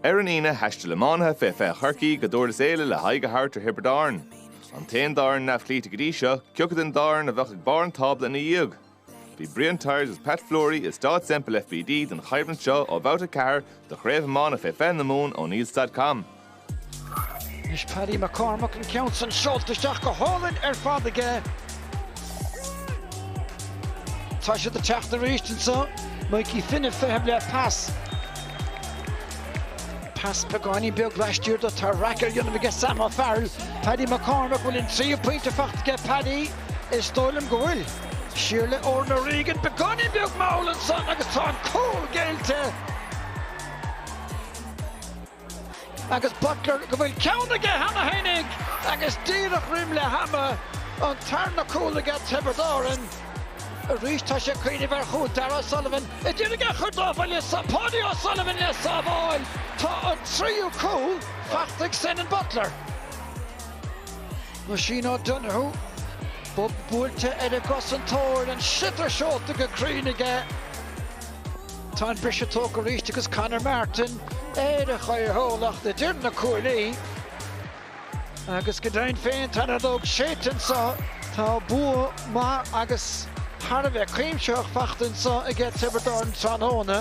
Ar an Aoine, thaistil iománaithe fé 20 Chorcaí go Dúrlas Éile le haghaidh a thabhairt ar Thiobraid Árann, an t-aon dá fhoireann neamhchloíte go dtí seo, cé acu den dá fhoireann a bheadh ag barr an tábla ina dhiaidh. Bhí Brian Tyers agus Pat Fleury i Staid Semple FBD don choimhlint seo ó Bhabhta 4 de Chraobh Iomána fé 20 na Mumhan oneills.com. Anois Paddy McCormack, an ceann san seolta isteach go hálainn ar fad aige. Tá siad ag teacht arís anseo, Mikey Finn ag feitheamh le pas. Pas beagáinín beag laistiar do, tarrac á dhéanamh aige Sam O'Farrell. Paddy McCormack, bhfuil an tríú pointe faighte aige Paddy? Is dóigh liom go bhfuil. Siar le Oran O'Regan, beagáinín beag mall ansan agus tá an cúl géillte. agus Butler go bhfuil ceann aige cheana féinig agus díreach roim leath ama an tarna cúl aige Tiobraid Árann arís tá sé ag cuimhneamh ar chúl Darragh O'Sullivan a d'iarraidh é a chur dá bhuille Paudie O'Sullivan le sábháil tá an tríú cúl faighte ag Senan Butler. Oisín O'Donoghue bob buailte ar an gcosantóir an sliotar seolta go cruinn aige. Tá an briseadh tógtha arís agus Conor Martin ar a chaoithiúlacht idir na cuaillí. Agus go deimhin féin tá an fheadóg séidte anseo. Tá bua maith agus thar a bheith cuimsitheach faighte anseo aige Tiobraid Árann tráthnóna.